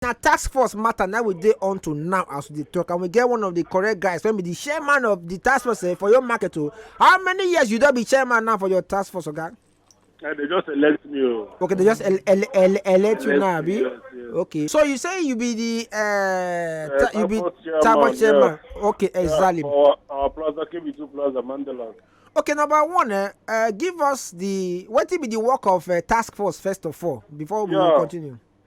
na task force matter na we dey on to now as we dey talk and we get one of the correct guys wey be the chairman of the task force eh, for your market o how many years you don be chairman now for your task force oga. Okay? they just elect me o. Oh. okay they just el el el elect you now abi. Yes, yes. okay so you say you be the uh, uh, ta you be tabo chairman yeah. okay exactly. Yeah, for our plaza kb two plaza mandela. okay number one eh, uh, give us the wetin be the work of uh, task force first of all before we yeah. continue.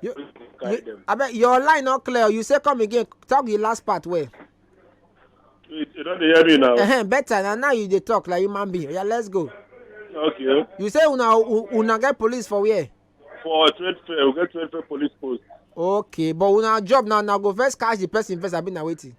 You, carry you, them. I bet your line not clear. You say come again. Talk the last part where. You, you don't hear me now. Uh-huh, better now. Now you they talk like human being. Yeah, let's go. Okay. You say una una get police for where? For trade fair, we get trade fair police post. Okay, but una job now now go first catch the person first. I been waiting.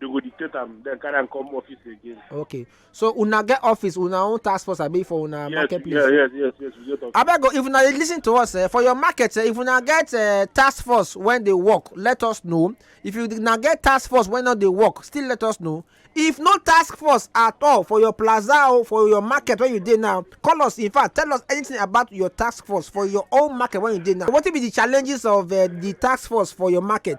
they go dictate am then carry am come office again. okay so una get office una own task force abi for una yes, market place. yes yes yes yes we get office. abeg if una dey lis ten to us eh, for your market eh, if una get eh, task force wey dey work let us know if you una get task force wey no dey work still let us know if no task force at all for your plaza or for your market wey you dey now call us in fact tell us anything about your task force for your own market wey you dey now wetin be the challenges of uh, the task force for your market.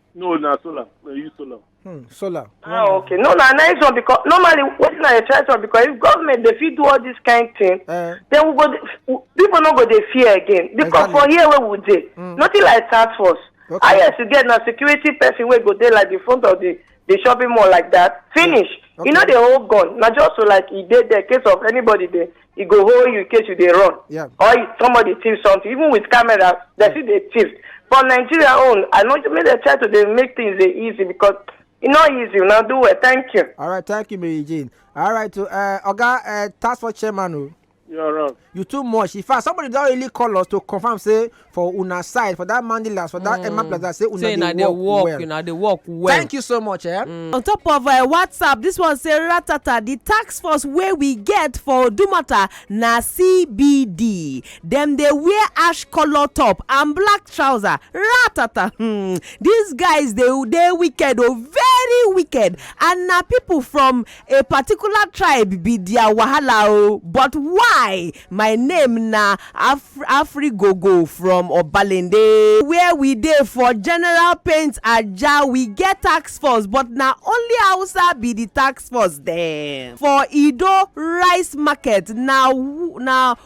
no na solar na use solar. Hmm, solar. ah hmm. okay no na nice one because normally wetin i dey try talk because if government dey fit do all this kind thing uh, then we go dey people no go dey fear again because exactly. for here wey we dey mm. nothing like task force okay. highest you get na security person wey go dey like the front of the the shopping mall like that finish okay. e no dey hold gun na just so like e dey there case of anybody dey e go hold you in case you dey run Yeah. or if somebody thief something even with camera dem still dey thief but nigeria own i no make dem try to dey make things dey easy because e no easy una do well thank you. All right, thank you, Mary Jane. All right, to uh, Oga uh, Task Force Chairman, oh, You're wrong. you too much. In fact, somebody don really call us to confirm say for una side for that mandilas for that emma mm. plaza say una dey work well una dey work well thank you so much eh mm. on top of uh, whatsapp this one say ratata the tax force wey we get for odumata na cbd dem dey wear ash colour top and black trouser ratata hmm these guys dey dey wicked o oh, very wicked and na people from A particular tribe be their wahala o but why my name na Afrigogo from Obalende where we dey for general paint Ajah we get task force but na only Hausa be the task force dem for Ido rice market na na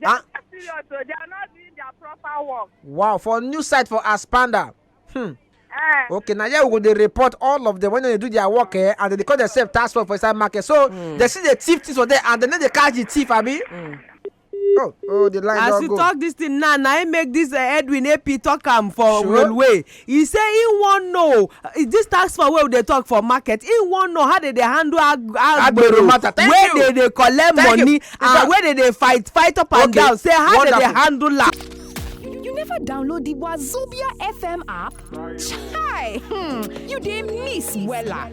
They Ah. are serious, so they are not doing their proper work. wow for new site for aspanda hmm. Eh, okay na here we go dey report all of them when dem dey do their work eh, and dem dey call themselves tax force for inside market so mm. dem still dey thief things for there and dem no dey catch the thief abi. Mm. Oh, oh, the line as don you go. talk this thing now na im make this uh, edwin ap talk am for Sure. railway e say e wan know this tax for wey we dey talk for market e wan know how they dey handle agbero wey dey dey collect money and wey dey dey fight fight up and down say how they dey handle am. you never download the wazobia fm app? chai hmm you dey miss wella.